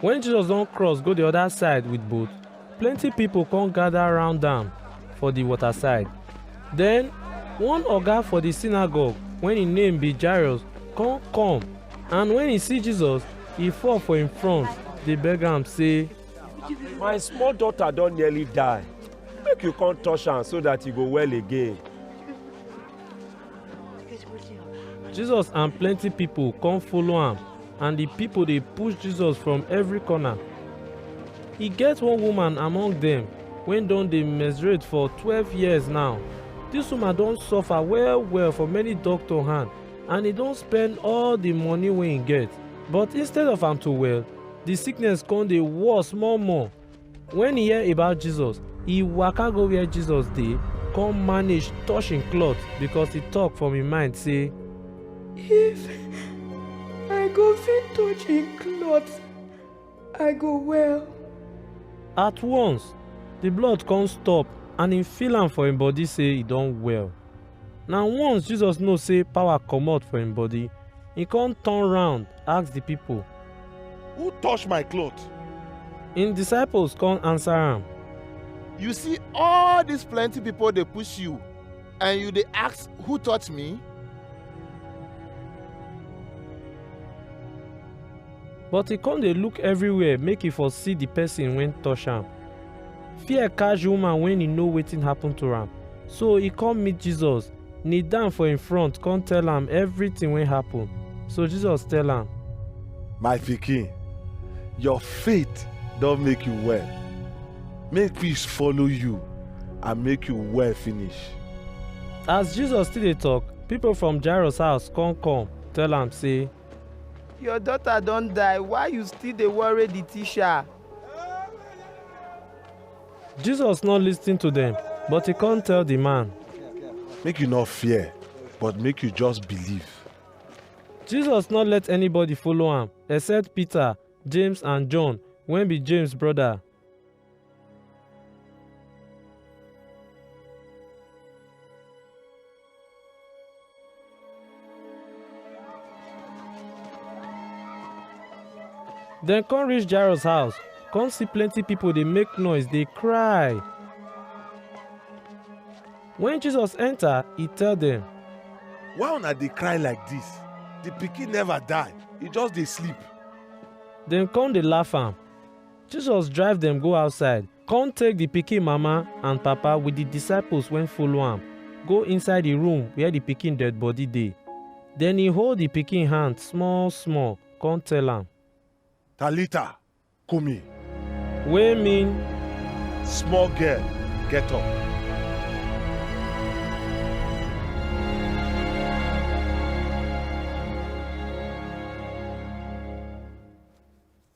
Wen Jesus don cross go di oda side wit boat, plenty pipo come gada round am for di waterside. Den, one oga for di synagogue wen im name be Jairus come come, and wen e see Jesus, e fall for im front dey beg am sey, My small daughter don nearly die. Make you come touch am so dat e go well again. Jesus and plenty people come follow am and the people dey push Jesus from every corner. E get one woman among dem wey don dey menstruate for twelve years now. Dis woman don suffer well well for many doctor hand and e don spend all the money wey e get but instead of am to well, the sickness come dey worse more more. Wen e hear about Jesus, e waka go where Jesus dey, come manage touch im cloth because e talk from im mind say, If I go fit touch im cloth, I go well. At once, the blood come stop and im feel am for im body say e don well. Na once Jesus know sey power comot for im body, e con turn round ask di pipo. Who touch my cloth? Im disciples con answer am. You see all dis plenty pipo dey push you and you dey ask who touch me? But e con dey look everywhere make e for see di pesin wey touch am. Fear catch di woman wen e know wetin happen to am, so e come meet Jesus, kneel down for im front come tell am everything wey happen. So Jesus tell am. My pikin, your faith don make you well. Make peace follow you and make you well finish. As Jesus still dey talk, people from Jairus house come come tell am say. Your daughter don die, why you still dey worry di teacher? Jesus no listen to dem, but he come tell the man. Make you not fear, but make you just believe. Jesus no let anybody follow am except Peter, James and John wey be James brother. dem come reach jairus house come see plenty people dey make noise dey cry when jesus enter he tell dem why una dey cry like dis the pikin never die e just dey sleep dem come dey laugh am jesus drive dem go outside Come take the pikin mama and papa with the disciples when follow am, go inside the room where the pikin dead body dey. Then he hold the pikin hand small small, come tell am, Talita, kumi. wey mean Small girl, get up.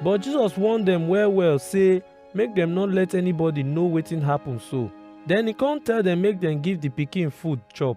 But Jesus warn dem well well say make dem no let anybody know wetin happen so. Then he come tell dem make dem give the pikin food chop.